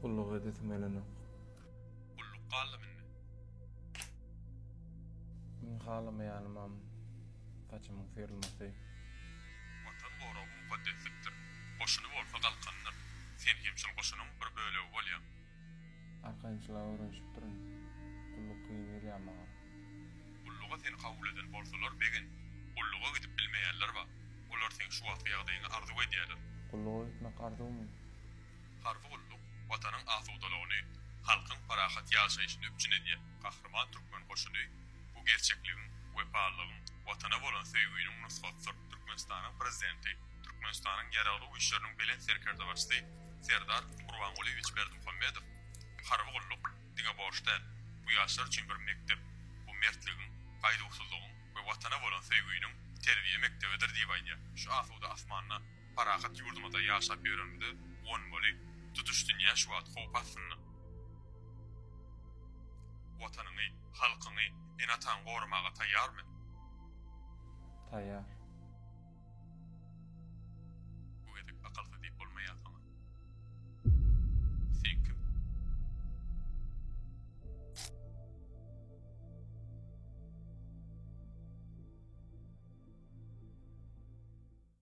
Gulluk edesim gelenok. Gulluk galdymy indi? Men halamaýanymam saçymyň syrylmasy. Watan goragy mukaddeslikdir. Goşuny bolsa galkandyr. Sen hem şol goşunyň bir bölegi bolýaň. Arkançylyga öwrenşipdirin. Gulluk kyn gelýär maňa. Gulluga seni kabul eden bolsalar begin, gulluga gidip bilmeýänler bar. Olar seň şu wagtky ýagdaýyňy arzuw edýärler. Gulluga gitmek arzuwmy? Harby gulluk Watanyň asudalygyny, halkyň parahat ýaşaýşyny üpjün edýär. Gahryman türkmen goşuny bu gerçekligiň, wepalylygyň, Watana bolan söýginiň nusgasydyr. Türkmenistanyň Prezidenti, Türkmenistanyň Ýaragly Güýçleriniň Belent Serkerdebaşysy Serdar Gurbangulyýewiç Berdimuhamedow, Harby gulluk diňe borç däl, bu ýaşlar üçin bir mekdep, bu mertligiň, gaýduwsyzlygyň we Watana bolan söýgüniň terbiýe mekdebidir diýip aýdýar. Şu asuda asmanda, parahat ýurdumyzda ýaşap ýörenimize guwanmaly, tutuş dünýä şu wagt howp astynda. Watanyňy, halkyňy, ene-ataňy goramaga taýýarmy? Taýýar. Bu gezek akalta diýip bolmaýar saňa. Sen kim?